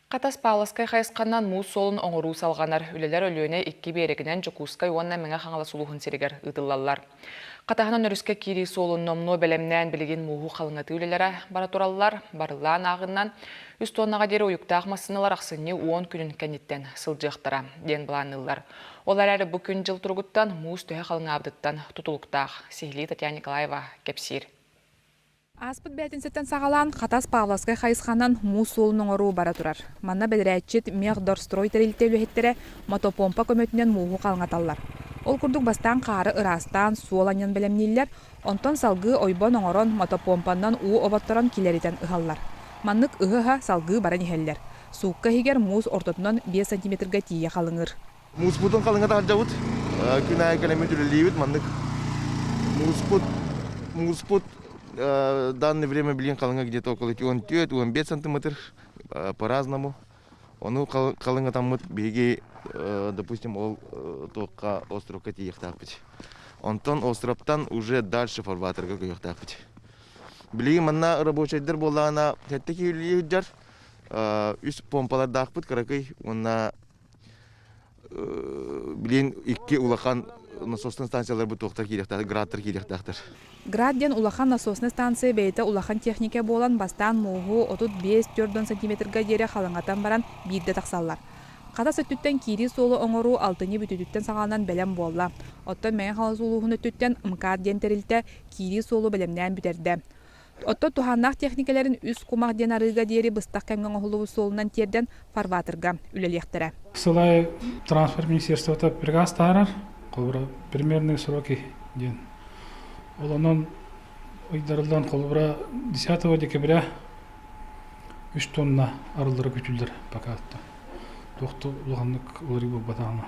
Хатас Пааласкай хайысханан муус суолун оҥоруу салҕанар. Үлэлэр Өлүөнэ икки биэрэгинэн Дьокуускай уонна Мэҥэ Хаҥалас улууһун сиригэр ыытыллаллар. Хатаһынан өрүскэ киирии суолун номнуо бэлэмнээн билигин мууһу халыҥатыы үлэлэрэ бара тураллар. Барыллаан ааҕыннан үс туоннаҕа диэри уйуктаах массыыналар ахсынньы уон күнүн кэнниттэн сылдьыахтара диэн былаанныыллар. Ол эрээри бу күн дьыл туругуттан муус төһө халыҥаабытыттан тутулуктаах, сиһилии Татьяна Николаева кэпсиир. Ааспыт бээтинсэттэн саҕалаан Хатас Павловскай хайысханан муус суолун оҥоруу бара турар. Манна бэдэрээтчит Мехдорстрой тэрилтэ үлэһиттэрэ мотопомпа көмөтүнэн мууһу халҥаталлар. Ол курдук бастаан хаары ыраастаан суол анньан бэлэмнииллэр, онтон салгыы ойбон оҥорон мотопомпаннан уу оботторон килэритэн ыһаллар. Маннык ыһа-ыһа салгыы баран иһэллэр. Суукка иһигэр муус ортотунан биэс сантиметрга тиийэ халыҥыыр. Мууспутун халыҥата сылдьабыт. Күн аайы кэлэммит үлэлиибит маннык. Мууспут, мууспут в данное время, блин, халыҥа где-то около 4-5 сантиметр по-разному. Ону халыҥатаммыт биһиги, допустим, ол туохха островка тиийиэхтээхпит. Онтон островтан уже дальше фарватерга көйүөхтээхпит. Билигин манна рабочайдар буоллаҕына, сэттэ киһилии сылдьар, үс помпалардаахпыт кыракый уонна Билин икки улахан насосный станцияларбыт туохтар киириэхтээхтэр, градтар киириэхтээхтер. Град диэн улахан насосный станция бэйэтэ улахан техника буолан бастаан мууһу отут биэс түөрт уон сантиметрга диэри халыҥатан баран биирдэ тахсаллар. Хатас өттүттэн киирии суолу оҥоруу алтынньы бүтүүтүттэн саҕаланан бэлэм буолла. Оттон Мэҥэ Хаҥалас улууһун өттүттэн МКАД диэн тэрилтэ киирии суолу бэлэмнээн бүтэрдэ. Оттон туһааннаах техникэлэрин үс кумах диэн арыыга диэри быстах кэмҥэ оҥоһуллубут суолунан тиэрдэн фарватерга үлэлиэхтэрэ. Сыл аайы трансфер министерствота приказ таһаарар, холобура примерные сроки диэн. Ол онон ыйдарыллан холобура 10 декабря 3 тонна арыллары күтүллэр пока туохто улаханнык уларый буолбатаҕына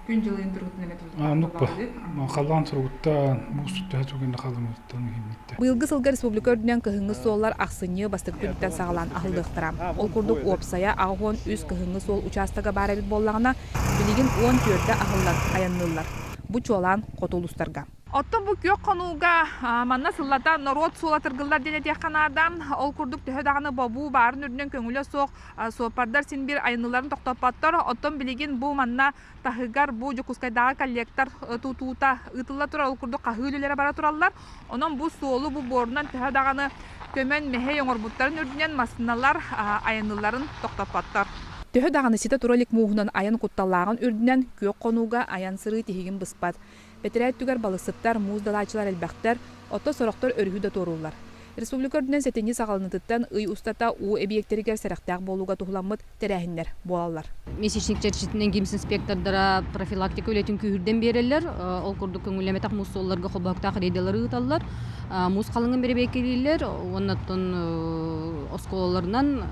күн дьылын туруутун эметуллубаллыын халаан суругутта буустут төһө тугунна халамыттан иһиммитте Быйылгы сылга республика үрдүнэн кыһыҥҥы суоллар ахсынньы бастакы күнүттэн саҕалаан аһыллыахтара. Ол курдук, уопсайа аҕыс уон үс кыһыҥҥы суол учаастага баар эбит буоллаҕына, билигин уон түөртэ аһыллан айанныыллар. Бу чуолаан хоту улуустарга. Оттон бу күөх хонууга манна сыллата норуот суола тыргыллар диэн этиэххэ наада. Ол курдук төһө даҕаны бобуу баарын үрдүнэн көҥүлэ суох Суоппардар син биир айаныларын тохтоппоттор, оттон билигин бу манна таһыгар бу Дьокуускайдааҕы коллектор тутуута ыытылла турар, ол курдук хаһыы үлэлэрэ бара тураллар. Онон бу суолу бу буорунан төһө даҕаны көмөн мэһэй оҥорбуттарын үрдүнэн массыыналар айанылларын тохтоппоттор. Төһө даҕаны ситэ тура илик мууһунан айан кутталлааҕын үрдүнэн күөх хонууга айан сырыы тиһигин быспат. Бэтэрээ өттүгэр балыссыптар, муус далааччылар элбэхтэр, оттон сорохтор өрүһү да туорууллар. Республика үрдүнэн сэтинньи саҕаланыытыттан ый устата уу эбийиэктэригэр сэрэхтээх буолууга туһуламмыт тэрээһиннэр буолаллар. Месячник чэрчитинэн гимс-инспектордара профилактика үлэтин күүһүрдэн биэрэллэр. Ол курдук көҥүллэммэтэх муус суолларга хобоһуктаах рейдалары ыыталлар, муус халыҥын бэрэбиэркэлииллэр уонна оттон оскуолаларынан,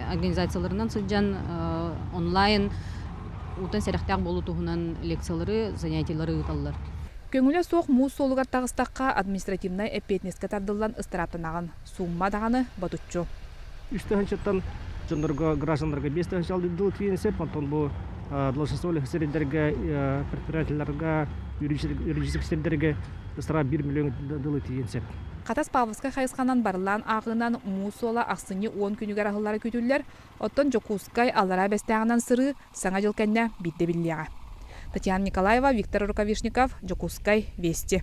организацияларынан сылдьан онлайн Уутан сэрэхтээх буолуу туһунан лекциялары, занятиелары ыыталлар. Көҥүлэ суох муус суолугар таҕыстахха административнай эппиэтинэскэ тардыллан ыстырааптанаҕын, суумма даҕаны ботуччу. Үс тыһыынчаттан дьоннорго, гражданнарга биэс тыһыынча алдьардылыы тириэньсип, онтон бу должностолоох сирдэргэ, предприятиеларга, юридическай сирдэргэ ыстараап биир миллион дылы тириэнсип. Хатас Павловскай хайысханан барыллаан ааҕыынан муус суола ахсынньы уон күнүгэр аһыллара күүтүллэр, Оттон Дьокуускай Аллараа Бэстээҕинэн сырыы Саҥа дьыл кэннэ биирдэ биллиэҕэ. Татьяна Николаева, Виктор Рукавишников, Дьокуускай, Вести.